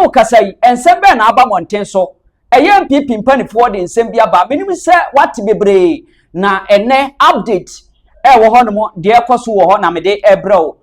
Ao kasa yi, nsɛm bɛn na aba mmɔnten so? Ɛyɛ NPP mpanimfoɔ de nsɛm bi aba. Menim sɛ woate bebree, na ɛnɛ update ɛwɔ hɔ nom, deɛ ɛkɔ so wɔ hɔ na mede ɛbrɛ wo.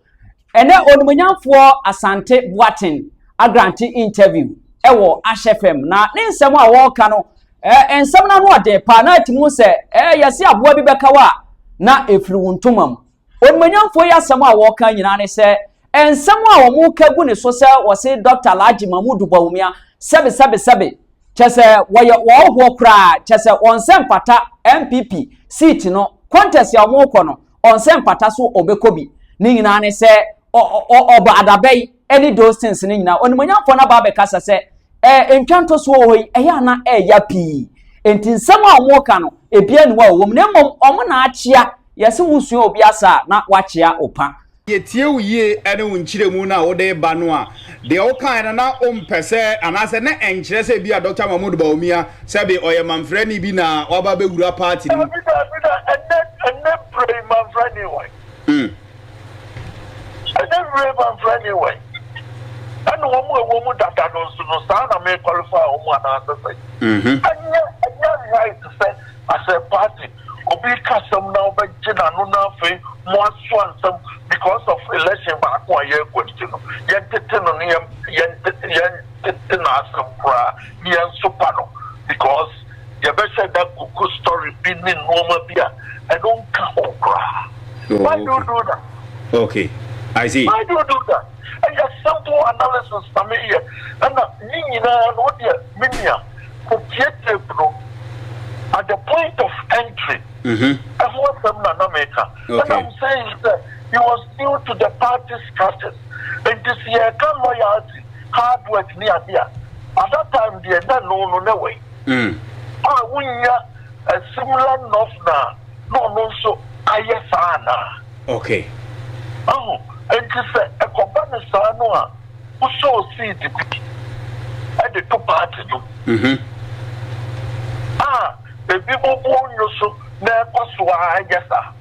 Ɛnɛ onimonyamfoɔ Asante Boaten agrante interview ɛwɔ Ash FM, na ne nsɛm a wɔreka no, ɛɛ nsɛm no ano ɔden paa, na ɛte mu sɛ ɛɛ yɛse aboa bi bɛka wo a, na ɛfiri wo ntoma mu. Onimanyamfoɔ yi asɛm a wɔka nyinaa ne sɛ nsɛm a wɔka gu ne so sɛ wɔse Dɔkta Alhaji Mahmudu Bawumia sɛbesɛbesɛbe kyerɛ sɛ wɔyɛ ɔɔhoɔ koraa kyerɛ sɛ ɔnsɛ mfata NPP seat no contest a wɔkɔ no ɔnsɛ mfata so ɔbɛkɔ bi ne nyinaa ne sɛ ɔbɔ adaba yi ne those things no nyinaa onimuonyamfoɔ no aba abɛkasa sɛ ɛɛ ntwa ntosoɔ wɔ hɔ yi ɛyɛ ana ɛɛya pii nti nsɛm a wɔn ka no ebi anu a wɔn na mmom wɔn na akyea yɛsi wusua obi asa na wakyea opa. Yɛtie wo yie ne wo nkyerɛmu no a wode ba no a, deɛ wokaeɛ no na wompɛ sɛ anaasɛ na ɛnkyerɛ sɛ bi a Dɔkta Mahmood Bawumia sɛbe ɔyɛ manfrani bi na waba abɛwura party no mu. Dabi dabi da ɛnɛ ɛnɛ berɛ yi manfrani wɔ he? Mm. Ɛnyɛ wiram mamfra ni wɛn? Ɛne wɔn a ɛwɔ mu dada no nso no, saa na merekɔlifaa wɔn anaasɛ sɛn? Mm-hmm. Ɛnyɛ ɛnyɛ nhae te sɛ asɛmpaa te, obi reka asɛm na wobɛgye n'ano na afei moasoa nsɛm because of election baako a yɛrekɔ nti no, yɛntete no ne yɛn yɛn yɛntete n'asɛm koraa ne yɛnsopa no because yɛbɛhyɛ da kuku story bi ne nnoɔma bi a ɛno nka ho koraa oh, why okay. do you do that okay I see why do you do that ɛyɛ simple analysis na meyɛ ɛna ne nyinaa no wodeɛ me nua kɔtie tape no at the point of entry mm-hmm. ɛho asɛm na na meka and I'm saying that he was new to the party structures nti sɛ yɛka loyalty hard work ne ade a, at that time deɛ na ɛno no na ɛwɔ yi. A wonnya a similar nɔf na na ɔno nso ayɛ saa anaa? Okay. Ahu? Enti sɛ ɛkɔba no saa no a, wo sow seed bi de to party no mu. A ebinom bo nnwo so na ɛkɔ so ara yɛ saa.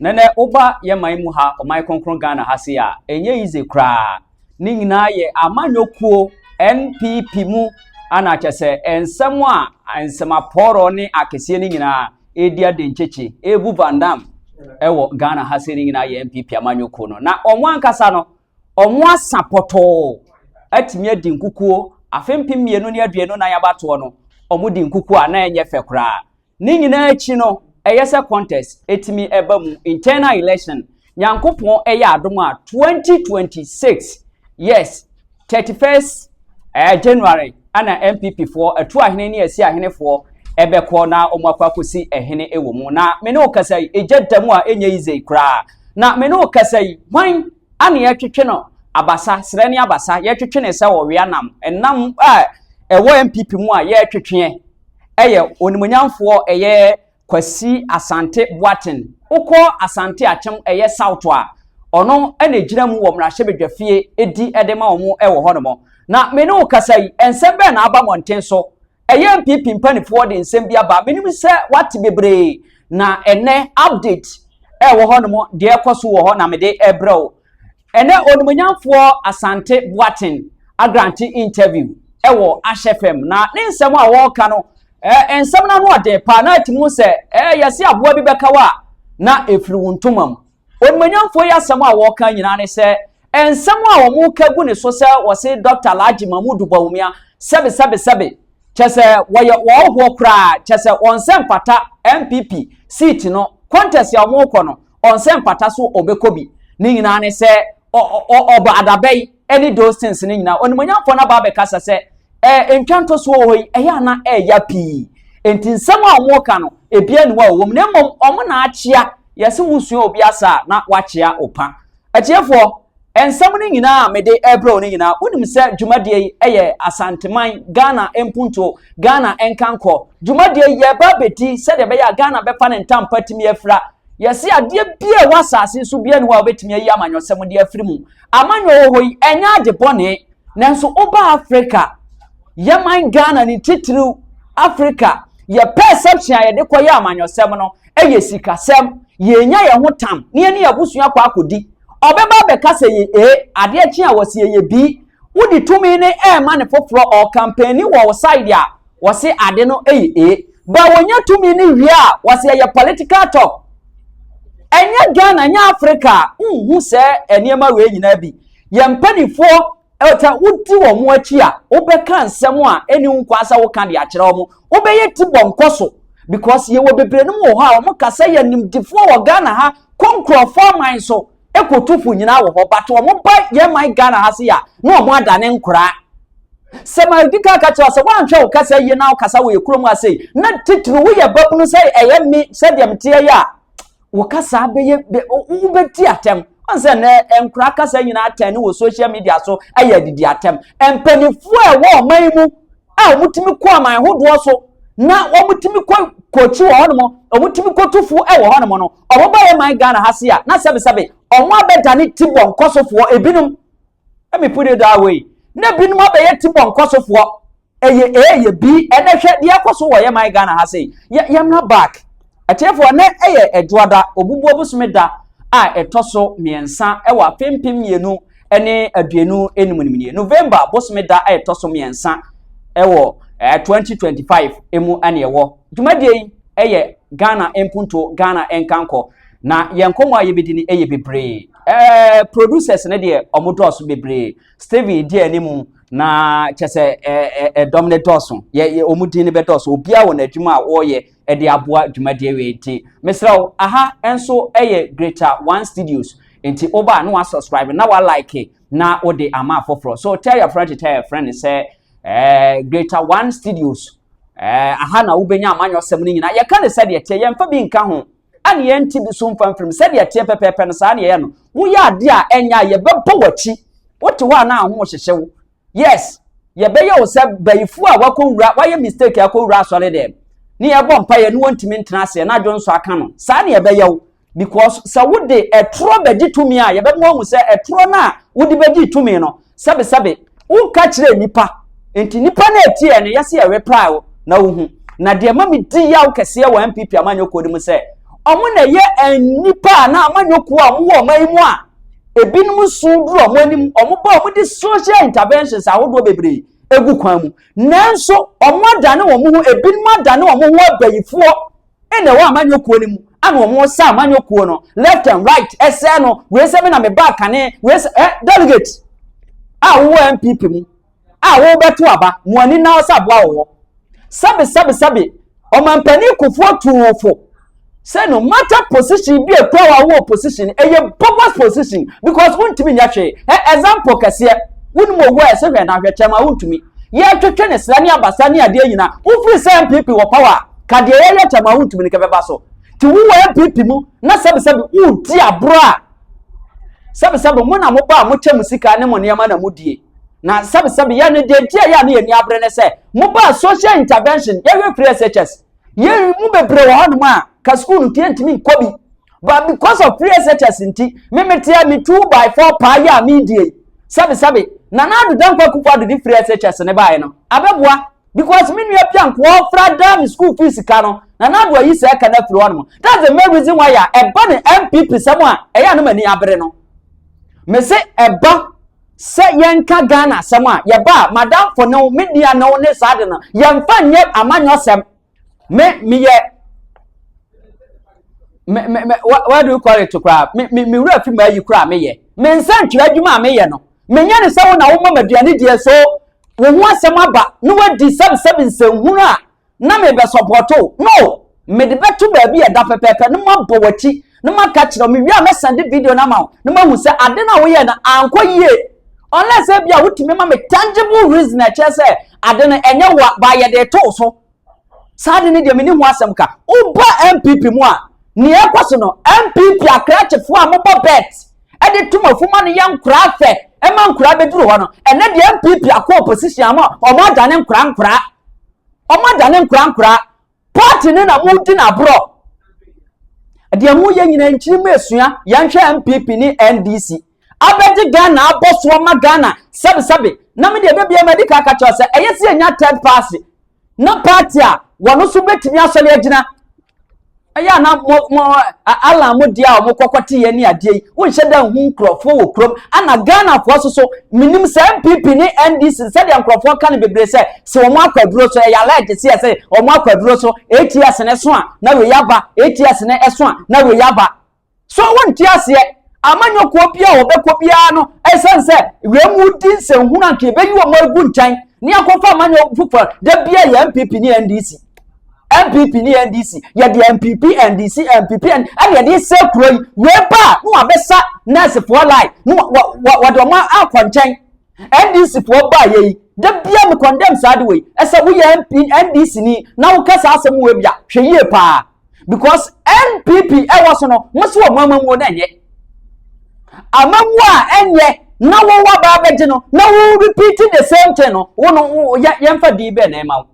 Nɛnɛ woba yɛ man mu ha, ɔman kronkron Ghana ha se a, ɛnyɛ easy koraa. Ne nyinaa yɛ amanyɔkuo NPP mu ana kyɛ sɛ nsɛm a nsɛmapɔɔrɔ ne akeseɛ no nyinaa ɛredi adenkyekye, ɛrebu Vandam ɛwɔ Ghana ha se no nyinaa yɛ NPP amanyɔkuo no. Na wɔn ankasa no, wɔn asa pɔtɔɔ atumi adi nkukuo afe mpem mmienu ne aduonu nan abatoɔ no, wɔn di nkukuo a na ɛnyɛ fɛ koraa. Ne nyinaa akyi no, ɛyɛ sɛ contest ɛtumi ɛba mu, internal election. Nyankopɔn ɛyɛ adom a 2026, yes, 31st eh, January, ana MPP foɔ ɛtu ahene ne ɛsi ahene foɔ ɛbɛkɔ na wɔn akɔ akɔsi ɛhene ɛwɔ mu. Na me ne wo kasa yi, ɛgya da mu a ɛnyɛ yize koraa. Na me ne wo kasa yi, hwan ana yɛtwetwe no abasa, serɛ ne abasa, yɛtwetwe ne sɛ ɔwea nam, ɛnam a ɛwɔ MPP mu a yɛtwetweɛ. yɛ onimuonyamfoɔ a ɛyɛ Kwasi Asante Boateng. Wokɔ Asante Akyem ɛyɛ South a, ɔno na ɛgyina mu wɔ mmarahyɛbadwafie di de ma wɔn wɔ hɔnom. Na me ne wo kasa yi, nsɛm bɛn na aba mmɔnten so? Ɛyɛ NPP mpaninfoɔ de nsɛm bi aba. Menim sɛ woate bebree na ɛnnɛ update ɛwɔ hɔnom, deɛ ɛrekɔ so wɔ hɔ na mede rebrɛ wo. Ɛnɛ onimuonyamfoɔ Asante Boateng agrante interview wɔ Ash FM na ne nsɛm a wɔreka no eh, nsɛm no ano ɔden paa na ɛte mu sɛ eh, yɛse aboa bi bɛka wa na ɛfiri wo ntoma mu. Onimuonyamfoɔ yi asɛm a wɔreka nyinaa ne sɛ eh, nsɛm a wɔn ka gu ne so sɛ wɔse Dr. Alhaji Mahmood Bawumia sɛbe sɛbe sɛbe kyɛ sɛ wɔyɛ wɔɔhoɔ koraa kyɛ sɛ wɔn sɛ mpata NPP seat no contest a wɔrekɔ no Ɔnsɛ mpata so ɔbɛkɔ bi. Ne nyinaa ne sɛ ɔbɔ adaba yi ne those things no nyinaa. Onimuonyamfoɔ no aba abɛkasa sɛ ɛɛ ntwa ntosoɔ wɔ hɔ yi ɛyɛ a na ɛɛya pii. Enti nsɛm a wɔreka no ebiara ni hɔ a ɛwɔ mu na mmom wɔn na akyea. Yɛse wosua obi asa a na wakyea wo pa. Atiefoɔ Nsɛm no nyinaa a mede rebrɛ wo no nyinaa, wonim sɛ dwumadie yi yɛ Asanteman, Ghana mpuntuo, Ghana nkankɔ dwumadie yi yɛreba abɛdi sɛdeɛ ɛbɛyɛ a Ghana bɛfa ne ntampa atumi afira. Yɛse adeɛ biara ɛwɔ asase so biara nni hɔ a wobɛtumi ayi amanyɔsɛm de afiri mu. Amanyɔ wɔ hɔ yi, ɛnyɛ ade bɔne. Nanso woba Africa, yɛ man Ghana ne titiriw Africa, yɛ perception a yɛde kɔyɛ amanyɔsɛm no yɛ sikasɛm. Yɛnya yɛn ho tam na yɛne yɛn abusua kɔ akɔdi. Ɔbɛba abɛka sɛ yɛ A, adeɛ kye a wɔse yɛyɛ B. Wode tumi no ɛrema ne foforɔ, ɔɔkampɛni wɔ wo side a, wɔse ade no yɛ A. But wɔnya tumi no wie a, wɔse ɛyɛ political talk. Ɛnyɛ Ghana, ɛnyɛ Africa a, wonhu saa nneɛma wei nyinaa bi. Yɛn mpanimfoɔ sɛ wodi wɔn akyi a wobɛka nsɛm a ɛni ho kwan sɛ woka de akyerɛ wɔn wobɛyɛ ti bɔ nkɔ so because yɛwɔ bebree no mu wɔ hɔ a wɔn ka sɛ yɛ nimdifoɔ wɔ ghana ha kɔ nkurɔfoɔ aman so ɛkɔtu fo nyinaa wɔ hɔ but wɔn ba yɛn man ghana ha se yɛ a na wɔn adane nkoraa sɛ ma di ka ka kyerɛ sɛ woanhwɛ wo kasa yie na wokasa wɔ yɛ kurom ase na titiri woyɛ babunu sɛ ɛyɛ me sɛdeɛ meteɛ yɛ a wo kasa bɛyɛ wobɛdi atɛm ɔn sɛ nɛ nkora kasa nyinaa atɛn ne wɔ social media so ayɛ adidi atɛm mpanimfoɔ a ɛwɔ ɔman yi mu a wɔtumi kɔ aman hodoɔ so na wɔtumi kɔ kɔkyi wɔ hɔnom wɔtumi kɔtu fuo wɔ hɔnom no wɔba yɛ man ghana ha se a na sɛbesɛbe wɔn abɛdane ti bɔ nkɔsofoɔ ebinom ɛmi put it that way na ebinom abɛyɛ ti bɔ nkɔsofoɔ ɛyɛ ɛyɛ bi ɛnɛ hwɛ deɛ ɛkɔ so wɔ yɛ man ghana ha sei yɛ yɛmra back ɛtiɛfoɔ ɛnɛ ɛyɛ ɛdwoada obubuo bosome da a ɛtɔ so mmiɛnsa ɛwɔ afe mpem mmienu ɛne aduonu enum nim nie november bosome da a ɛtɔ so mmiɛnsa ɛwɔ ɛɛ eh, twenty twenty five emu ɛne ɛwɔ dwumadie yi ɛyɛ ghana mpunto ghana nkankɔ na yɛn nkɔmɔ a yɛbɛdi ni ɛyɛ bebree ɛɛ eh, producers ne deɛ wɔn dɔɔso bebree Stephen di anim na kyɛ sɛ ɛdɔm no dɔɔso yɛ wɔn din no bɛdɔɔso obiara wɔ n'adwuma a wɔreyɛ de aboa dwumadie wei nti mesrɛ wo aha nso yɛ greater one studios nti woba a na wasubscribe na walike na wode ama afoforɔ so tell your friend to tell your friend sɛ eh, greater one studios eh, aha na wobɛnya amanyɔsɛm no nyinaa yɛka ne sɛdeɛ teɛ yɛmfa bi nka ho ɛne yɛn ti bi so mfa mfirim sɛdeɛ ɛteɛ pɛpɛɛpɛ no saa na yɛyɛ no woyɛ adeɛ a ɛnyɛ a yɛbɛbɔ w'akyi wote hɔ a na aho hyehye wo yes yɛbɛyɛ wo sɛ bayifoɔ a wakɔwura wayɛ mistake akɔwura asɔre dɛm ne yɛbɔ mpa yɛ ne wɔntumi ntena aseɛ na adwo nso aka no saa na yɛbɛyɛ wo because sɛ wode ɛtorɔ bɛgye tumi a yɛbɛma wahu sɛ ɛtorɔ no a wode bɛgye tumi no Sɛbesɛbe, wonka kyerɛɛ nnipa, enti nnipa no a ɛteɛɛ no yɛ se yɛrepae wo na wohu. Na deɛ ɛma me di yaw kɛseɛ wɔ NPP amanyɔ kuo no mu sɛ, wɔn na ɛyɛ nnipa anaa amanyɔ kuo a wɔn wɔ ɔman yi mu a ebinom nso duru wɔn anim, wɔn ba wɔn de social interventions ahodoɔ bebree egu kwan mu. Nanso wɔn adane wɔn ho, ebinom adane wɔn ho abayifoɔ. na ɛwɔ amanyɔ kuo no mu ana wɔn resa amanyɔ kuo no left and right ɛsɛ no wei sɛ me na me ba kane wei sɛ ɛ delegate a wowɔ npp mu a wobɛto aba mo ani na sɛ aboa wɔ hɔ sɛbe sɛbe sɛbe ɔmampanin kofoɔ tuufo sɛ no matter position bi ɛkura wɔ awɔ position ɛyɛ bogus position because wontumi nyɛ hwee ɛ example kɛseɛ wonim owó a ɛsɛ hwɛ na ahwɛkyɛm a wontumi yɛtwetwe ne sra ne abasa ne adeɛ nyinaa wofiri sɛ npp wɔ power Ka deɛ yɛyɛ kyɛ ma wontumi no kɛbɛba so. Te wo wɔ NPP mu na sɛbesɛbe woredi aborɔ a, sɛbesɛbe mo na mobɔ a mokyɛ mo sika ne mo nneɛma na modie. Na sɛbesɛbe yɛn no deɛ nti a yɛn a ne yɛn ani abere ne sɛ mobaa social intervention yɛhwɛ firi SHS. Yɛn mu bebree wɔ hɔnom a ka sukuu no nti yɛntumi nkɔ bi. But because of free SHS nti, me meteɛ me two by four paa yi a meredie yi, sɛbesɛbe Nana Addo Dankwa Akufo-Addo de free SHS no baeɛ no, abɛboa. because me nua bi a nkoa ɔfra daa me school fees sika no na n'ado ayi sɛ ɛka no afiri hɔ nom that's the main reason why a ɛba ne npp sɛm a ɛyɛ anam ani abere no me se ɛba sɛ yɛnka ghana asɛm a yɛba a madamfo ne wo me nua ne wo ne saa de no yɛmfa nyɛ amanyɔ sɛm me meyɛ me me me what do you call it koraa me me me wura fi mu ayi koraa meyɛ me nsɛntwerɛ adwuma a meyɛ no Menyɛ no sɛ wo na woma m'aduane diɛ so wo ho asɛm aba na woadi sɛbsɛb nsɛnhunu a na merebɛsɔpɔɔto wo. No! Mede bɛto baabi a ɛda pɛpɛɛpɛ na mabɔ w'akyi na maka akyerɛ wo. Mewie a mɛsan de video no ama wo na mahu sɛ ade no a woyɛe no ankɔ yie. Unless ebia wotumi ma me tangible reason a ɛkyerɛ sɛ ade no ɛnyɛ wo a, but yɛde reto wo so Saa de no deɛ mene ho asɛm ka. Woba NPP mu a, nea ɛkɔ so no, NPP akrakyefoɔ a mobɔ bet de tom afuma no yɛ nkoraa fɛ ɛma nkoraa bɛduru hɔ no. Ɛnɛ deɛ NPP akɔ opposition ama wɔn adane nkoraa nkoraa. Wɔn adane nkoraa nkoraa. Party no na modi no aborɔ. Deɛ moyɛ nyina nkyiri mu esua yɛnhwɛ NPP ne NDC. abɛgye Ghana abɔ so ama Ghana sɛbesɛbe na me deɛ dabia madi ka aka kyerɛ sɛ ɛyɛ sɛ yɛnya third party na party a wɔn nso bɛtumi asɔre agyina ɛyɛ a na mo mo alan mo deɛ a wɔn kɔkɔ te yɛ ne adeɛ yi wonhyɛ da nhu nkurɔfoɔ wɔ kurom ana Ghanafoɔ so so menim sɛ NPP ne NDC sɛdeɛ nkurɔfoɔ ka no bebree sɛ sɛ wɔn akɔ aduro so ɛyɛ alɛgye sɛ sɛ wɔn akɔ aduro so ATS ne so a na wei aba ATS ne ɛso a na wei aba So wonte aseɛ? Amanyɔkuo bi a wɔbɛkɔ biara no, ɛsiane sɛ wei mu di nsɛnhunu anka yɛbɛyi wɔn agu nkyɛn ne akɔfa amanyɔ foforɔ da bi a yɛ npp ne ndc npp ne ndc yɛde npp ndc npp ɛne yɛde sɛ kuro yi wei ba a na wabɛsa nɛɛsefoɔ line na wɔde wɔn akɔ nkyɛn NDC foɔ baayɛ yi da bia me condemn saa de wei ɛsɛ woyɛ MP NDC ni na woka saa asɛm wei bia hwɛ yie paa because NPP ɛwɔ so no mo so wɔ mo amamuo na ɛnyɛ amamuo a ɛnyɛ na wɔn wa baa bɛgye no na wɔn repeat the same thing no wɔn yɛ yɛnfa dii bɛn na ɛma wo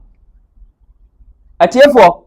atiefoɔ.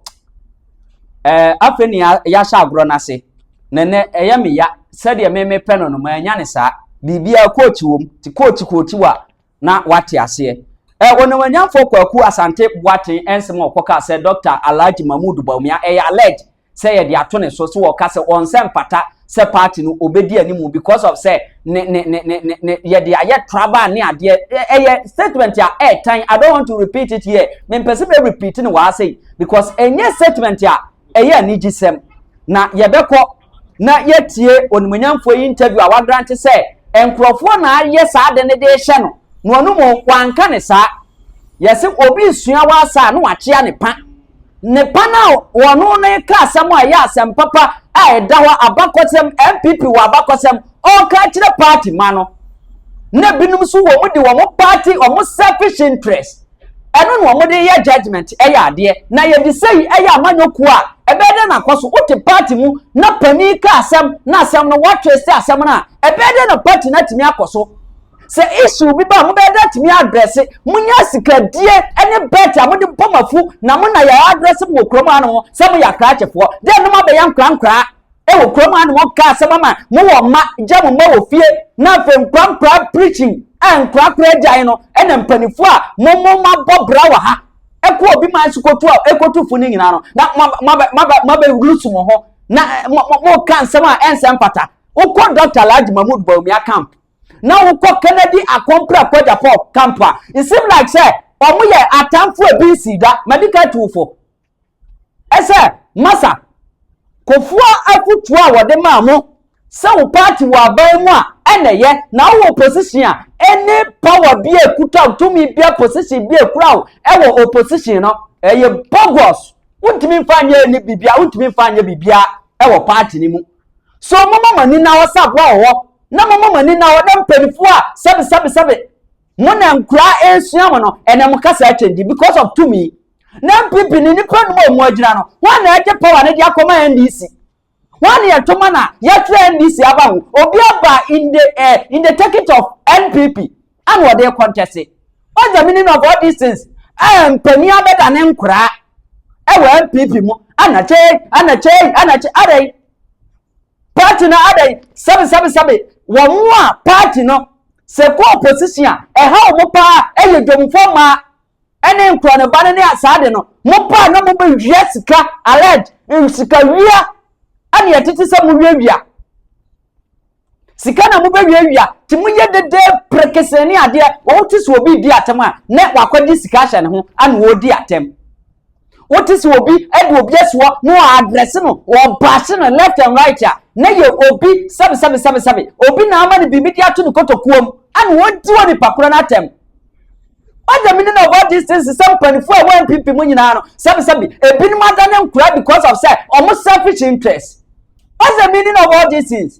Ɛɛ afei ne yɛahyɛ agorɔ no ase. Na nnɛ ɛyɛ me ya sɛdeɛ me mepɛ no no manya ne saa. Biribiara coach wom te coach coach wa na wate aseɛ. Ɛɛ onimonyamfoɔ Kwaku Asante Boateng nsɛm a ɔkɔkaa sɛ Dɔkta Alhaji Mahmood Bawumia ɛyɛ alleged sɛ yɛde ato ne so so ɔka sɛ ɔnsɛ mpata sɛ party no obedi animu because of sɛ ne ne ne ne ne ne yɛde ayɛ traba ne adeɛ ɛyɛ statement a ɛɛtan i don't want to repeat it here mempɛsɛ bɛ repeat no wɔ ase because ɛnyɛ statement a ɛyɛ anigye sɛm na yɛbɛkɔ na yɛtie onimonyamfoɔ yi interview a wagrante sɛ nkurɔfoɔ na ayɛ saa de ne de hyɛ no na ɔno mu wanka ne saa yɛsɛ obi sua wɔ asa a na wakyea ne pa ne ba no a wɔne no reka asɛm a ɛyɛ asɛm papa a ɛda hɔ abakɔsɛm npp wɔ abakɔsɛm ɔreka akyerɛ party ma no na binom nso wɔn de wɔn party wɔn selfish interest ɛno na wɔn de yɛ judgement ɛyɛ adeɛ na yɛde sɛ yi ɛyɛ amanyɔkuo a ɛbɛyɛ dɛ na akɔ so wote party mu na panin ka asɛm na asɛm no wɔatwe sɛ asɛm no a ɛbɛyɛ dɛ na party no atumi akɔ so. sɛ issue bi ba a mobɛyɛ dɛ atumi address monya sikadie ne bet a mode bɔ mo afu na mo na yɛ address mo wɔ kurom ano sɛ moyɛ akrakyefoɔ dɛ nom abɛyɛ nkorankoraa ɛwɔ kurom ano ɔka asɛm ama mo wɔ mma gya mo mma wɔ fie na afei nkorankoraa preaching a nkorakora agyae no ɛna mpanimfoɔ a mo mo mo abɔ bra wɔ ha ɛkɔ obi man so kɔtu a ɛkɔtu fo no nyinaa no na mabɛlusu mo ho na moka nsɛm a ɛnsɛ mfata wokɔ dɔkta lagye mahmud baumia camp na wokɔ kennedy akɔmpra kɔgya pɔ camp a it seem like sɛ ɔmo yɛ atamfo ebi nsi da madika tuufo ɛsɛ masa kofua afutuo a wɔde maa mo sɛ wo party wɔ aban mu a ɛna ɛyɛ na wowɔ position a ɛne power bi a ekuta wo tumi bi a position bi a ekura wo ɛwɔ opposition no ɛyɛ bogus wontumi nfa nyɛ ɛni bibia wontumi nfa nyɛ bibia ɛwɔ party ni mu So momma mo ani nna hɔ sɛ aboa wɔ hɔ, na momma mo ani nna hɔ na mpanyimfoɔ a sɛbesɛbesɛbe mo na nkuraa ɛresua mo no ɛnɛ mo kasa akyɛngyi because of tumi. Na NPP ne nipa num a ɔmo agyina no, wɔn na ɛgye power no de akɔma NDC. Wɔn na yɛto ma na yɛtwerɛ NDC aba ho. Obi aba in the, eh, in the ticket of NPP. ɛna ɔde rekɔ ntɛse what's the meaning of all these things ɛɛ mpanyin abɛda ne nkoraa ɛwɔ npp mu ɛna kyɛ ɛna kyɛ ɛna kyɛ ɛdɛ yi party na ɛdɛ yi sɛbi sɛbi sɛbi wɔn mu a party no sɛ kɔ opposition a ɛha wɔn paa ɛyɛ dwomfoɔ maa ne nkorɔ ne ba no ne asaa de no mo paa na mo bɛ wia sika alɛd nsika wia ɛne yɛtete sɛ mo wia wia sika na mo bɛ wia wia te mo yɛ dede prekese ne adeɛ wɔn te sɛ obi di atɛm a na wakɔgye sika ahyɛ ne ho ɛna wɔredi atɛm. wote sɛ obi de obi asoɔ na wɔadrɛse no wɔbase no left and right a na yɛ obi sɛbesɛbesɛbesɛbe obi na ama no biribi de ato ne kotokuo mu ana wɔdi wɔ nipa korɔ no atɛm ɔdɛ mene na ɔbɔ distance sɛ mpanimfoɔ a ɛwɔ npp mu nyinaa no sɛbesɛbe ebinom ada ne nkora because of sɛ ɔmo selfish interest ɔdɛ mene na ɔbɔ distance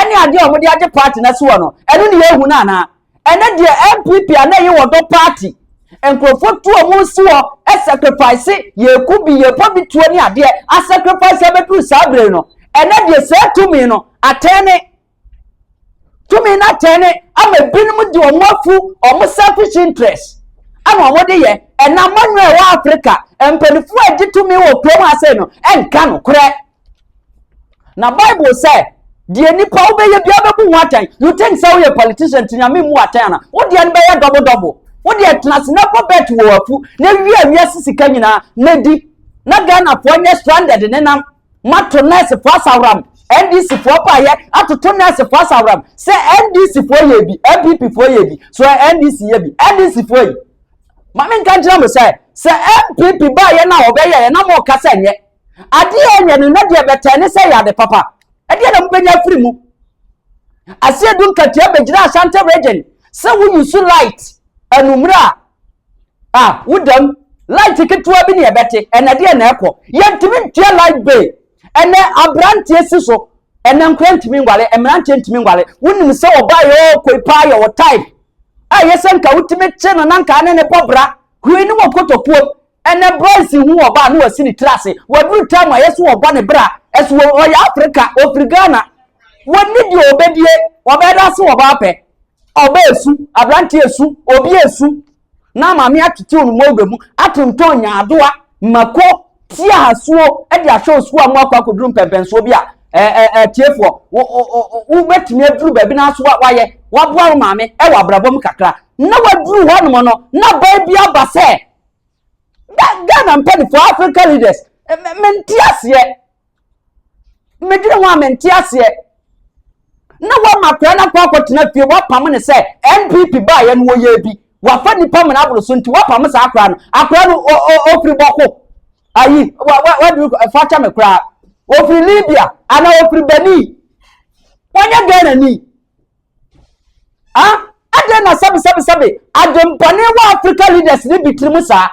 ɛne adeɛ a wɔde agye party no asoɔ no ɛno ne yɛhu no anaa ɛnɛ deɛ npp a na ɛyɛ wɔdɔ party nkurɔfoɔ tu ɔmo si hɔ sacrifice yɛku bi yɛbɔ bi tuo ne adeɛ asacrifice abɛduru saa bere no ɛnɛ deɛ saa tumi no atɛn ne tumi no atɛn ne ama binom de ɔmo afu ɔmo selfish interest ɛna ɔmo de yɛ ɛna mɔnyɔ ɛwɔ africa mpanimfoɔ a ɛgye tumi wɔ kurom ase no ɛnka no korɛ. Na Bible sɛ deɛ nipa wobɛyɛ bia bɛbu ho atɛn. You think sɛ woyɛ politician nti nyame mu atɛn ana? Wo deɛ no bɛyɛ dɔbo dɔbo. Wo deɛ tena ase na kɔ bet wɔ afu na wia wiase sika nyinaa na di. Na Ghanafoɔ nyɛ stranded nenam. Mato nursefoɔ asawram. NDCfoɔ paayɛ atoto nursefoɔ asawram. Sɛ NDCfoɔ yɛ bi, MPPfoɔ yɛ bi. So NDC yɛ bi. NDCfoɔ yi. Mame nka nkyerɛ mo sɛ, sɛ MPP baayɛ no a wɔbɛyɛ yɛ na mo ka sɛ nyɛ. Ade a ɛnyɛ no na deɛ ɛbɛtɛn ne sɛ ɛyɛ ade papa. Ɛdeɛ na mobɛnya afiri mu. Aseɛ du nkatua bɛgyina Ashanti region sɛ wo use light anummerɛ a a wodam light ketewa bi ne ɛbɛte ɛnɛ deɛ na ɛkɔ yɛntumi ntua light bay ɛnɛ aberanteɛ si so ɛnɛ nkora ntumi ngwale mmeranteɛ ntumi ngwale wonim sɛ ɔbaa yɛ ɔkoi paa yɛ wɔ type a yɛ sɛ nka wotumi kye no na nka ne ne bɔ bra hwee ne wɔ kotokuo Ɛnɛ boys hu ɔbaa na wasi ne tiri ase waduru time a yɛsi wɔbɔ ne bra ɛso ɔyɛ Africa ofiri Ghana wɔnni deɛ ɔbɛdie ɔbɛda ase ɔbaa pɛ ɔbaa esu aberante esu obi esu na maame atete wɔn mu ɔbɛ mu atontɔn nyaadoa mako ti ahasuo ɛde ahwɛ osuo a mo akɔ akɔduru mpɛmpɛnsoɔ bi a atiefoɔ wobɛtumi aduru baabi no aso wayɛ waboa wo maame ɛwɔ abrabɔ mu kakra na waduru hɔ nom no na baa bi aba sɛ ghana mpanimfoɔ africa leaders mente aseɛ medwene ho a mente aseɛ na wama akwadaa no akɔ akɔtena fie wapam ne sɛ npp baayɛ no wɔyɛ bi wafa nipa mena aboro so nti wapam saa akwadaa no akwadaa no ofiri bɔko ayi wadu fakyɛ me koraa ofiri libya anaa ofiri benin wɔnyɛ ghana ni. Ah, adɛn na sɛbesɛbesɛbe adwempɔne wɔ Africa leaders ne bi tirim saa?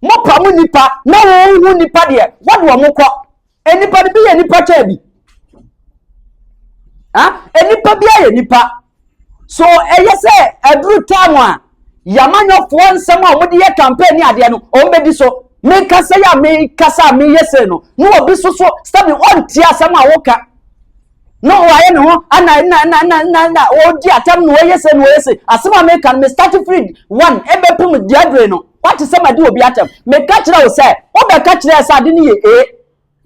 Mopa mo nipa na wɔn ho nipa deɛ wɔde wɔn kɔ. Nipa no bi yɛ nipa kyɛn bi. Ah, nipa bi ayɛ nipa. So ɛyɛ sɛ aduru time a yamanyɔfoɔ nsɛm a wɔde yɛ campaign ne adeɛ no wɔn bɛdi so. Mekasa yi a mekasa a meyɛ sei no na obi so so sɛbi ɔntie asɛm a woka. na ɔayɛ ne ho ana na na na na na ɔredi atam na ɔyɛ se na ɔyɛ se asɛm a meka no me start free one ɛbɛpem diadre no wate sɛ madi obi atam meka kyerɛ wo sɛ wobɛka kyerɛ sɛ ade no yɛ ee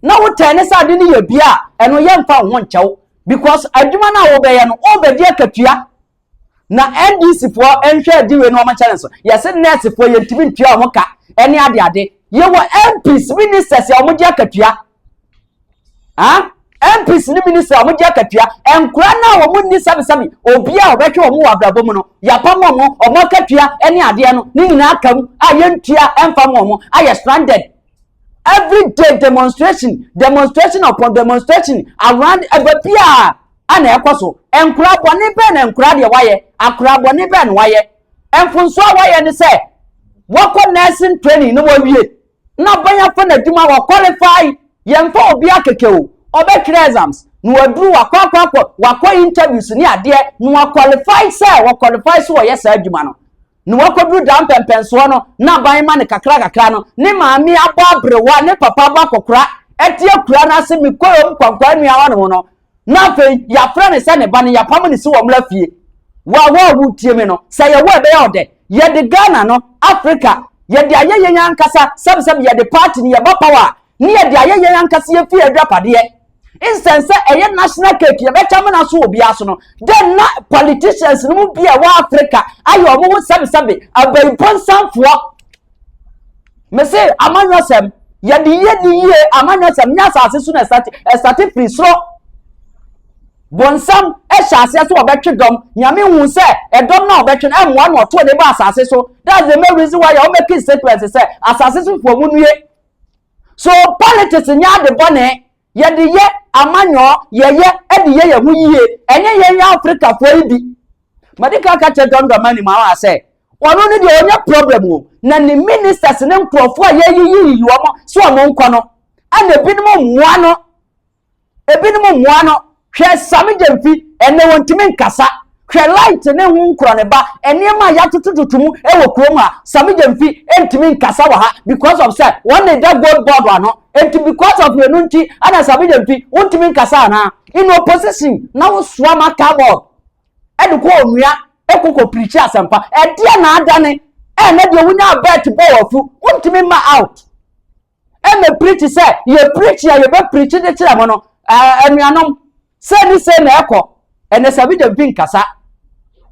na wotɛn ne sɛ ade no yɛ bia a ɛno yɛmfa wo ho nkyɛw because adwuma no a wobɛyɛ no wobɛdi akatua Na NDC foɔ nhwɛ adi wei na wɔn nkyɛn nso. Yɛse nurse foɔ yɛntumi ntua wɔn ka ɛne ade ade. Yɛwɔ MPs, ministers a wɔn gye akatua. Ah? MPs ne minister a wɔn gye akatua. Nkora no a wɔn nni sɛbisɛbi obi a wɔbɛhwɛ wɔn wɔ abrabɔ mu no. Yɛapam wɔn, wɔn akatua ɛne adeɛ no ne nyinaa ka mu a yɛntua ɛmfa wɔn ayɛ stranded everyday demonstration demonstration upon demonstration around ɛbɛ bi a ɛna ɛkɔ so nkora bɔne bɛn na nkora deɛ wayɛ akora bɔne bɛn na wayɛ mfonso a wayɛ ne sɛ wɔkɔ nursing training na wɔwie na bɛn afɔ na adwuma wɔ qualify yɛmfa obi akeke o ɔbɛtwerɛ exams na waduru wakɔ akɔ akɔ wakɔ interviews ne adeɛ na waqualify sɛ waqualify so wɔyɛ saa adwuma no na wakɔduru daa mpɛmpɛnsoɔ no na aban ma no kakra kakra no ne maame abɔ aberewa ne papa abɔ akɔkora ɛte akura no ase mekɔɛ ɔm kwankwaa nua hɔ nom no na afei yɛafrɛ ne sɛ ne ba no yɛapam ne si wɔ mmra fie wawa a wotie me no sɛ yɛwɔ ɛbɛyɛ ɔdɛ yɛde ghana no africa yɛde ayɛ yɛn ankasa sɛbsɛb yɛde party no yɛba power a ne yɛde ayɛ yɛn ankasa yɛn fie agyapadeɛ nsɛn sɛ ɛyɛ national cake yɛbɛkyɛ mena so wɔ biara so no dɛn na politicians no mu bi a ɛwɔ africa ayɛ wɔn ho sɛbesɛbe abayibɔnsanfoɔ mese amanyɔsɛm yɛde yie de yie amanyɔsɛm nyɛ asase so na ɛsate ɛsate firi soro bonsam ɛhyɛ aseɛ sɛ ɔbɛtwe dɔm nyame hu sɛ ɛdɔm na ɔbɛtwe no ɛmmoa na ɔtoɔ ne ba asase so that's the main reason why yɛ ɔmɛki statement sɛ asase so foɔ mu nue So politics nyɛ ade bɔne? Yɛde yɛ amanyɔɔ, yɛyɛ de yɛ yɛn ho yie. Ɛnyɛ yɛn yɛ Afrikafoɔ yi bi. Madi kan ka kyerɛ John Dramani Mahama sɛ, ɔno ne deɛ ɔnyɛ problem o, na ne ministers ne nkurɔfoɔ a yɛyiyiyi wɔn sɛ wɔn nkɔ no, ɛna ebinom mmoa no. Ebinom mmoa no, hwɛ Sami Gyamfi, ɛnnɛ wɔntumi nkasa. Hwɛ Light ne ho nkorɔneba, nneɛma a yɛatotototo mu wɔ kurom ha. Sami Gyamfi ntumi nkasa wɔ ha because of sɛ wɔn na ɛda gold board ano. Enti because of wenu nti ɛna Sami Gyamfi wontumi nkasa anaa? In opposition na wosoa marker board ɛde kɔ onua ɛkɔkɔ pirikyi asɛmpa. Ɛdeɛ na adane ɛna deɛ wonya bet bɔ wɔ afu wontumi mma out. ɛna pirikyi sɛ yɛ pirikyi a yɛbɛ pirikyi de kyerɛ mo no anuanom sɛ ne sɛ na ɛkɔ ɛnɛ sɛ bi dɛm bi nkasa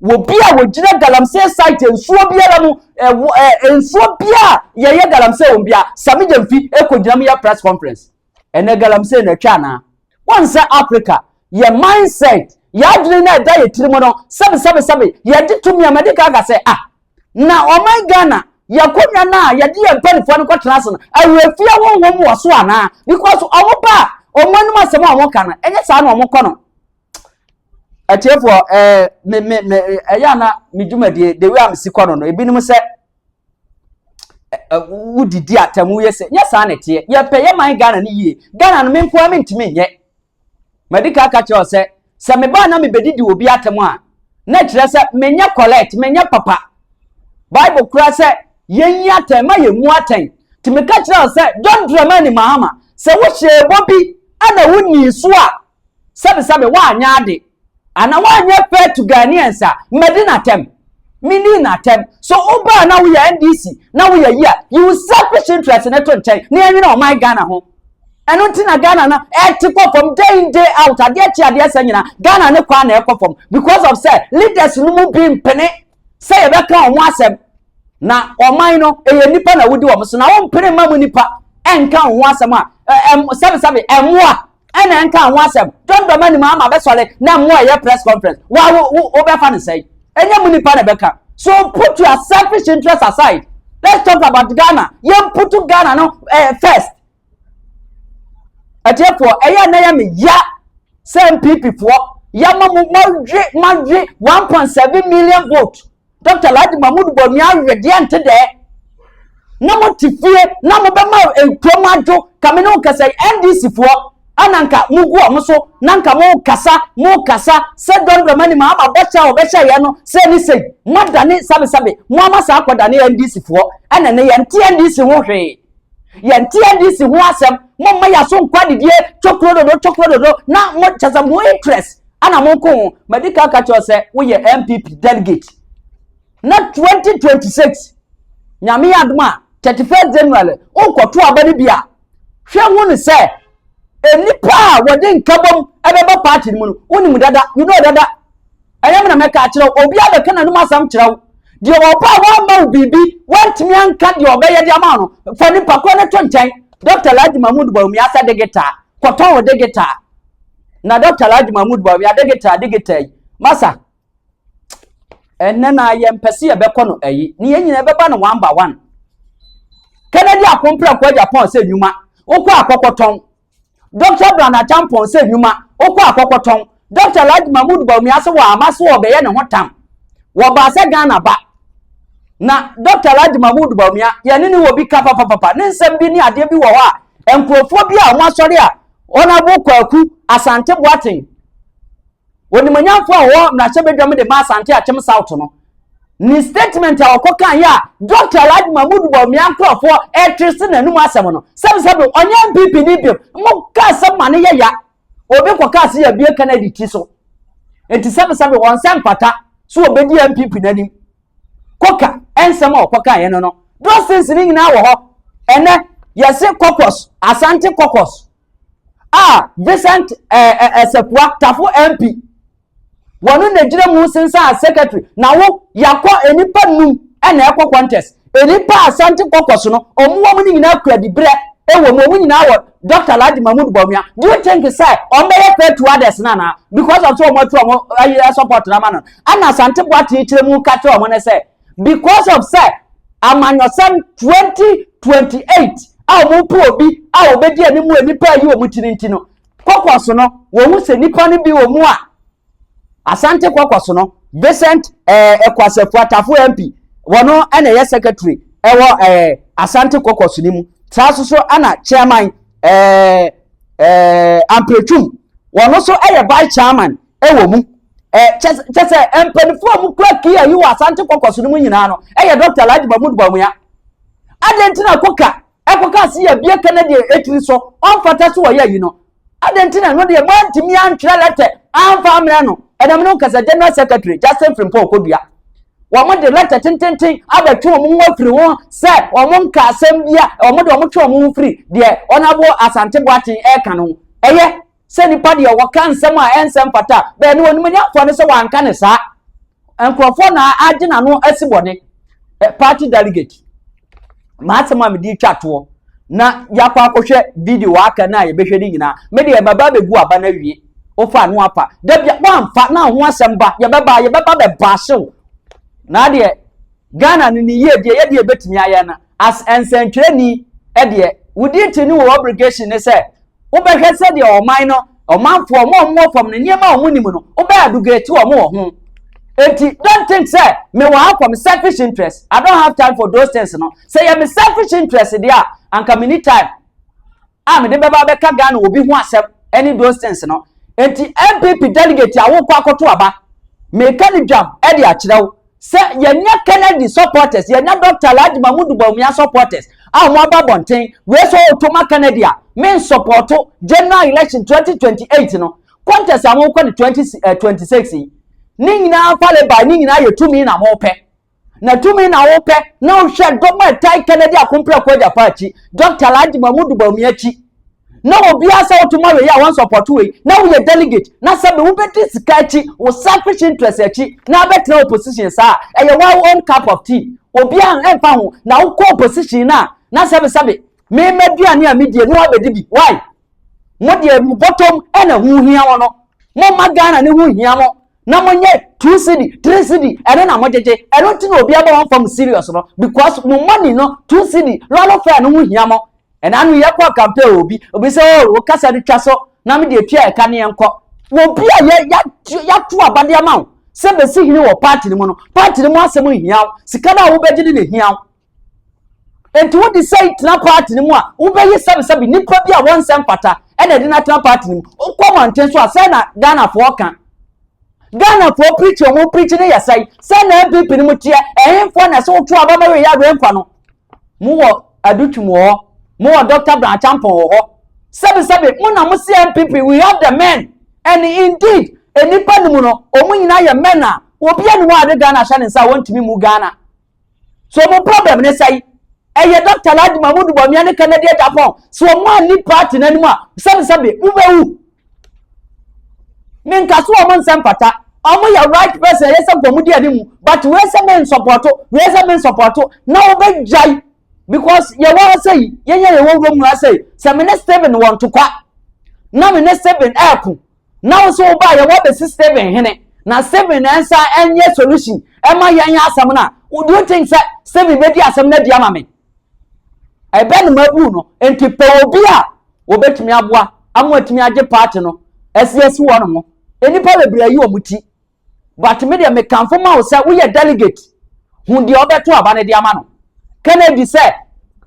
wɔ bi a wɔgyina galamsey site nsuo biara mu ɛwɔ ɛ nsuo biara yɛyɛ galamsey wɔn bia sami gyɛm fi ɛkɔ gyina mu yɛ press conference ɛnɛ galamsey na ɛtwa anaa wɔn sɛ africa yɛ mindset yɛ adwene na ɛda yɛ tiri mu no sɛbi sɛbi sɛbi yɛde tumi a mɛde ka ka sɛ ah na ɔman ghana yɛakonnwa no a yɛde yɛn mpanimfoɔ no kɔtena ase no awerɛfie honhom wɔ so anaa because wɔn ba a wɔn anim asɛm a wɔka no ɛnyɛ saa na wɔkɔ no atiefoɔ ɛɛ me me me ɛyɛ ana me dwumadie the way a mesi kɔ no no ebinom sɛ wodidi atɛm woyɛ sɛ nyɛ saa na ɛteɛ yɛpɛ yɛ man ghana no yie ghana no me nkoa mentumi nyɛ Madi kan aka akyerɛ wo sɛ, sɛ mebaa na mebɛdidi wɔ obi atɛm a, na ɛkyerɛ sɛ menyɛ correct, menyɛ papa. Bible kora sɛ yɛnyi atɛn, ma yɛmmu atɛn. Nti meka kyerɛ wo sɛ, John Dramani Mahama, sɛ wohyɛɛ bɔ bi na wonnii so a, sɛbesɛbe woanyɛ ade. Ana wanyɛ pɛ to Ghanaians a madi n'atɛm? Mini n'atɛm. So wobaa na woyɛ NDC na woyɛ yi a, yi wo selfish interest no to nkyɛn na yɛnwene ɔman Ghana ho. Ɛno nti na Ghana no ɛte kɔ fam day in day out, adeɛ kye adeɛ sa nyina Ghana ne kwan na ɛkɔ fam because of sɛ leaders no mu bi mpene sɛ yɛbɛka wɔn asɛm na ɔman no ɛyɛ nipa na wodi wɔn so na wɔmpene mma mu nipa ɛnka wɔn ho asɛm a sɛbesɛbe ɛmmoa ɛna nka ho asɛm dɔndɔm anim ama bɛsɔre na mo a ɛyɛ press conference wa wo wo wobɛfa no sɛn ɛnyɛ mo nipa na ɛbɛka so put your selfish interest aside let's talk about ghana yɛn put ghana no eh, first ɛtiɛfoɔ ɛyɛ ɛna yɛ me ya sɛ npp foɔ yɛ ma mo ma we ma we one point seven million vote dɔkta alhaji mahmud bɔmi awe deɛ nte dɛɛ na mo te fie na mo bɛma nkurom adwo kame ne nkasa ndc foɔ ana nka mo gu ɔmo so na nka mo kasa mo kasa sɛ dɔndɔ mani ma ama bɔhyɛ a ɔbɛhyɛ yɛn no sɛ ne sɛn mo adane sabesabe mo ama saa akɔdane ndc foɔ ɛna ne yɛn te ndc ho hwee yɛnte NDC ho asɛm momma yɛaso nkɔ adidie tokuro dodo tokuro dodo na mo kyɛ sɛ mo interest ana mo nko ho madi ka ka kyerɛ sɛ woyɛ MPP delegate na 2026 nyame yɛ adom a 31 January wonkɔto aba no bi a hwɛ hu no sɛ nnipa a wɔde nkabom ɛbɛbɔ party no mu no wonim dada you know dada Ɛyɛ me na mɛka akyerɛ wo, obiara bɛka n'anom asɛm kyerɛ wo. Deɛ ɔba a wamma wo biribi, wantumi anka deɛ ɔbɛyɛ de ama no, fa nipa korɔ no to nkyɛn. Dɔkta Alhaji Mahmood Bawumia sɛ de gitaa, kɔtɔn wo de gitaa. Na Dɔkta Alhaji Mahmood Bawumia de gitaa de gitaa yi, masa, ɛnɛ na yɛmpɛ sɛ yɛbɛkɔ no ayi, ne yɛn nyinaa bɛba no one by one. Kennedy Akomprɛ Kwagya Pɔn sɛ nnwuma, wokɔ akɔkɔtɔn. Dɔkta Bran Acheampong sɛ nnwuma, wokɔ a kɔkɔtɔn. Dɔkta Alhaji Mahmood Bawumia so wɔ ama so ɔbɛyɛ ne ho tam. Wɔbaa sɛ Ghana ba. Na Dɔkta Alhaji Mahmood Bawumia, yɛne no wɔ bi ka papapapa. Ne nsɛm bi ne adeɛ bi wɔ hɔ a, nkurɔfoɔ bi a wɔasɔre a Honourable Kwaku Asante Boateng, Onimonyamfo a ɔwɔ mmarahyɛbadwam de ma Asante Akyem South no ne statement a ɔkɔ kan yɛ a Dr. Alhaji Mahmood Bawumia nkorɔfoɔ ɛtwe se n'anum asɛm no sɛbsɛbe ɔnyɛ NPP ni biom mo ka asɛm ma ne yɛ ya obi kɔ ka se yabue ka no adi ti so nti sɛbsɛbe wɔn sɛ mfata so obedi NPP n'anim kɔka ɛnsɛm a ɔkɔ kan yɛ no no those things ne nyinaa wɔ hɔ ɛnɛ yɛse kɔkɔs Asante kɔkɔs a Vincent Asafua eh, eh, eh, Tafo MP wɔn na gyina mu sensan as secretary na wo yakɔ nipa num ɛna ɛkɔ contest nipa asante kɔkɔ so no wɔn wɔn no nyinaa kura dibrɛ ɛwɔ mu wɔn nyinaa wɔ dr alhaji mahmood bɔnua do you think sɛ wɔn bɛyɛ fair to others na na because of so wɔn atu wɔn ayi support na ma no ɛna asante boate kyerɛ mu ka kyerɛ wɔn no sɛ because of sɛ amanyɔsɛm twenty twenty eight a wɔn po obi a wɔbɛdi anim wɔ nipa ayi wɔn ti no nti no kɔkɔ so no wɔn ho sɛ nipa no bi wɔ mu a asante kɔkɔ so no vincent ɛɛ eh, ɛkwasɛfo atafo mp wɔn ɛna ɛyɛ secretary ɛwɔ ɛɛ eh, asante kɔkɔ so no mu saa so so ɛna chairman ɛɛ eh, ɛɛ ampretwum wɔn nso ɛyɛ vice chairman. wɔ mu kyɛ sɛ mpanimfoɔ a wɔkura kia yi wɔ asante kɔkɔ so no mu nyinaa no yɛ dɔkta alhaji mahmud bawumia adɛn nti na koka ɛkɔka ase yɛ bie ka na deɛ ɛtiri so ɔmfata so wɔyɛ yi no adɛn nti na ɛno deɛ moantumi antwerɛ lɛtɛ amfa ammerɛ no ɛnam no kasa general secretary justin frimpɔ kɔdua wɔn de lɛtɛ tententen abɛtwe wɔn ho afiri ho sɛ wɔn nka asɛm bi a wɔn de wɔn twe wɔn ho firi deɛ wɔn abo asante boaten ɛka no ɛyɛ sɛ nipa deɛ wɔka nsɛm a ɛnsɛ mfata bɛɛ no wɔnim nya mfoɔ no sɛ wɔanka ne saa nkurɔfoɔ na agye n'ano asi bɔne party delegate maa asɛm a mede twa toɔ na yɛakɔ akɔhwɛ video aka no a yɛbɛhwɛ no nyinaa me deɛ maba bɛgu aba no awie wofa ano apa da bia woamfa na ho asɛm ba yɛbɛba yɛbɛba bɛba ahyew na adeɛ ghana no ne yie deɛ yɛdeɛ bɛtumi ayɛ no As nsɛntwerɛni deɛ, wo duty ne wo obligation ne sɛ wobɛhwɛ sɛdeɛ ɔman no, ɔmanfoɔ, ɔmo a ɔmo wɔ fam no, nneɛma a ɔmo nim no, wobɛ adugate ɔmo wɔ ho. Enti, don't think sɛ mewɔ ha for me selfish interest. I don't have time for those things no. Sɛ yɛ me selfish interest deɛ a, anka menni time. a mede bɛba abɛka Ghana obi ho asɛm ne those things no. Enti NPP delegate a wokɔ akɔto aba, meka no dwam de akyerɛ wo sɛ yɛanya Kennedy supporters, yɛanya Dɔkta Alhaji Mahmudu Bawumia supporters a wɔaba abɔnten. Wei sɛ woto ma Kennedy a, mensɔpɔɔto general election 2028 no contest a mowokɔ no 2026 yi. Ne nyinaa fale by, ne nyinaa yɛ tumi na mopɛ. Na tumi na wopɛ na wohwɛ dɔm a ɛtae Kennedy Akomprako Agyafa akyi, Dɔkta Alhaji Mahmudu Bawumia akyi. Na obiara sɛ woto ma wei a wɔn sɔpɔto wei, na woyɛ delegate, na sɛbe wobɛdi sika akyi, wo selfish interest akyi, na abɛtena opposition saa. Ɛyɛ wɔn own cup of tea. Obiara ɛmfa ho, na wokɔ opposition no a, na sɛbe sɛbe, me m'aduane a medie no wabɛdi bi. Why? Mo deɛ mo bɔtɔm ɛna ho hia wɔn no. Momma Ghana ne ho nhia mo. na mo nyɛ two cedi three cedi ɛno na mo gyegye ɛno nti na obi abɔ wɔn fam serious no because mo money no two cedi lɔɔre fɛn no ho hia mo ɛna ano yɛ kɔ campaign obi obi sɛ o oh, o kasa no twa so na me deɛ tua ɛka ne yɛn kɔ obi a yɛ yɛato abadeɛ ma wo sɛ bɛsi hene wɔ party no mu no party no mu asɛm nhia wo sika no a wobɛgye ne na hia wo Enti wode sɛi tena party no mu a, wobɛyi sɛbesɛbe nipa bi a wɔnsɛ mfata ɛna ɛde no atena party no mu. Wokɔ manten so a, sɛn na Ghanafoɔ ka? Ghanafoɔ preach a wɔn preach no yɛ sɛi? Sɛn na NPP no mu teɛ? Ɛhenfoɔ na ɛsɛ woto aba ma wei awerɛ nkwa no? Mowɔ Adutwum wɔ hɔ, mowɔ Dr. Brown Acheampong wɔ hɔ. Sɛbesɛbe mo na mo se NPP, we have the men. And indeed, nnipa no mu no, wɔn nyinaa yɛ men a obiara ne wɔn a ade Ghana ahyɛ ne nsa a wɔntumi mu Ghana. So wɔn problem ne sɛn? Ɛyɛ Dɔkta Alhaji Mahmood Bawumia ne Kennedy Agyapong. So wɔn anni party n'anim a, sɛbesɛbe, wobɛwu. Menka so wɔn nsɛm fata. Wɔn yɛ right person, ɛyɛ sɛ nka wɔn di anim. But wei sɛ me nsɔpɔto, wei sɛ me nsɔpɔto, na wɔbɛgyae. Because yɛwɔ ha sɛ yi, yɛnyɛ yɛwɔ wurom ha sɛ yi. Sɛ me ne Stephen wɔ ntokwa, na me ne Stephen ɛɛko, na wo so wobaa yɛ wɔbɛsi Stephen hene na Stephen na ɛnsa ɛnyɛ solution ɛma yɛn yɛ asɛm no a do you think sɛ Stephen bɛdi asɛm no adi ama me ɛbɛ no mabu no nti pɛ obi a wɔbɛtumi aboa ama atumi agye party no ɛsi asi hɔ no mo nnipa bebree ayi wɔn ti but me deɛ mekamfo ma wo sɛ woyɛ delegate hu deɛ ɔbɛto aba no de ama no kennedy sɛ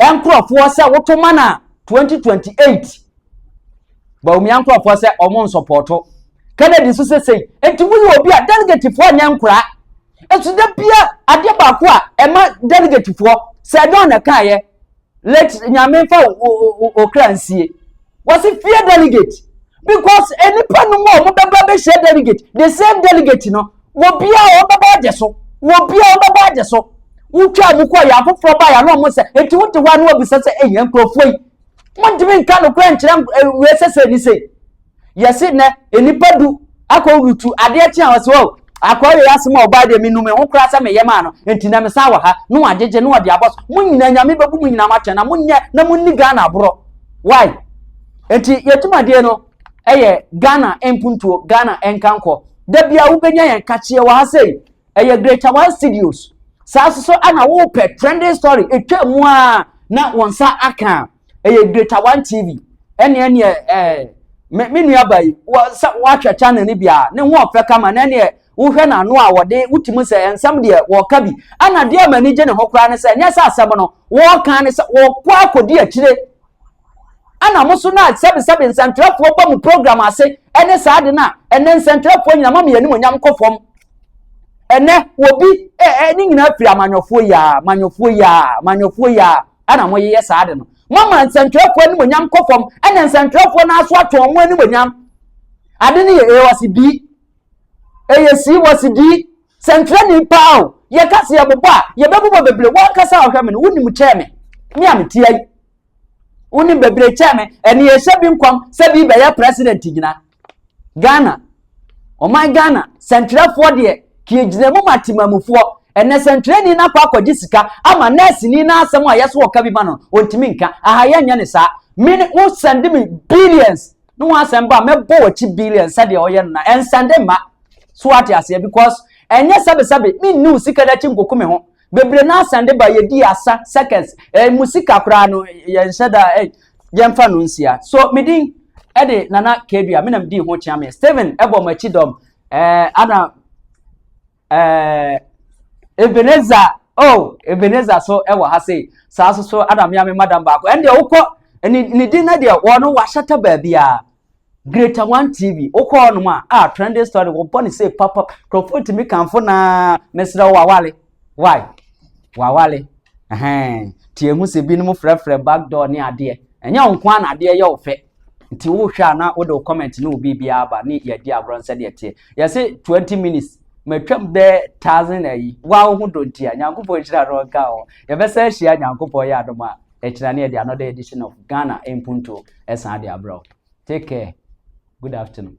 nkurɔfoɔ sɛ woto ma no a 2028 baumia nkurɔfoɔ sɛ ɔmo nsɔpɔɔto kennedy nso sɛ sei nti woyɛ obi a delegatefoɔ nyɛ nkoraa ɛso da bia adeɛ baako a ɛma delegatefoɔ sɛ ɛdɔn na ɛkaeɛ let nyame nfa okra nsie wɔsi fear delegate because nipa no mu a wɔn bɛba bɛhyɛ delegate the same delegate no wɔ bia a wɔn bɛba agye so wɔ bia a wɔn bɛba agye so wotwa mu kɔ yɛ afoforɔ ba yɛ ano wɔn sɛ eti wote hɔ ano wɔbisa sɛ eyi nkurɔfoɔ yi wɔntumi nka no kura nkyerɛ wei sɛ sɛ ni sɛ. yɛse nɛ nnipa du akɔ rutu adeɛ kye a wɔse o akɔ yɛ asɛm a ɔbaa deɛ menu me ho koraa sɛ meyɛ maa no nti na mesan wɔ ha na wagyegye na wɔde abɔ so mo nyinaa nyame bɛbu mo nyinaa matwɛn na monyɛ na monni ghana aborɔ why nti yɛtumadeɛ no ɛyɛ ghana mpuntuo ghana nkankɔ da bia wobɛnya yɛn kakyeɛ wɔ ha sei ɛyɛ greater one studios saa nso so ɛna wopɛ trending story etwa mu a na wɔn nsa aka ɛyɛ greater one tv ɛne ɛneɛ ɛɛ me me nua ba yi wɔ sɛ wahwɛ channel no bi a ne ho ɔfɛ kama na ɛneɛ wohwɛ n'ano a wɔde wotumi sɛ nsɛm deɛ wɔka bi ɛna deɛ ama ani gye ne ho koraa ne sɛ ɛnyɛ sɛ asɛm no wɔka ne sɛ wɔkɔ akɔdi akyire Ɛna mo nso na sɛbesɛbe nsɛnkyerɛfoɔ ba mo program ase ɛne saa ade no a, ɛnɛ nsɛnkyerɛfoɔ nyina ma me animonyam kɔ fam. Ɛnɛ wɔbi ɛɛ ne nyinaa firi amanyɔfoɔ yi aa, manyɔfoɔ yi aa, manyɔfoɔ yi aa, ɛna mo yeyɛ saa ade no. Mama nsɛnkyerɛfoɔ animonyam kɔ fam, ɛna nsɛnkyerɛfoɔ no aso atwe wɔn animonyam. Ade no yɛ ɛwɔ se di, ɛyɛ si wɔ se di, sɛnkyerɛni paa o, yɛka se yɛbobɔ a, yɛbɛbobɔ bebree, wɔn ankasa a ɔhwɛ me no, wonim kyɛɛ me, me a metia yi. wonim bebree kyɛn me ɛne yɛhyɛ bi nkɔm sɛ bi bɛyɛ president gyina ghana ɔman ghana sɛntwerɛfoɔ deɛ kie gyina mu ma temamufoɔ ɛnɛ sɛntwerɛni no akɔ akɔgye sika ama nɛɛseni no asɛm a yɛso ɔka bi ma no ɔntumi nka aha yɛnyɛ ne saa mene wo sɛnde me billions ne ho asɛm ba mɛbɔ wɔkyi billions sɛdeɛ ɔyɛ no na ɛnsɛnde mma so ate aseɛ because ɛnyɛ sɛbesɛbe menni wo sika no akyi nkoko me ho Bebree no ara san de ba, yɛdii asa, circus, eh, emu sika koraa no, yɛnhyɛ da, eh, yɛmfa no nsia. So, me din de Nana Kadua, me na medii ho kyeame. Steven bɔ m'akyi dɔm, eh, ana, eh, Ebenezer, oh, Ebenezer so wɔ ha sei, saa so so ana me ame madam baako, ɛndeɛ wokɔ, ne, ne din no deɛ, wɔn no wahyɛtɛ baabiara. Greater One TV, wokɔ hɔnom a, a trending story, wɔbɔ ne sei papa, nkurɔfoɔ tumi kamfo naa, mesrɛ wo wawale. Why? Wawale. Ɛhɛn, nti ehu sɛ binom frɛfrɛ backdoor ne adeɛ. Ɛnyɛ wo nko ara na adeɛ yɛ wo fɛ. Nti wohwɛ a na wode wo comment ne wo biribiara aba ne yɛadi agorɔ no sɛdeɛ ɛteɛ. Yɛse 20 minutes, matwam bɛɛ thousand ayi. Wo ara wo ho dɔ nti a, Nyankopɔn nhyira no nka wo. Yɛbɛsan ahyia Nyankopɔn yɛ adom a. ɛkyerɛ ne yɛde another edition of ghana mpuntuo ɛsan de abrɛ wo take care good afternoon.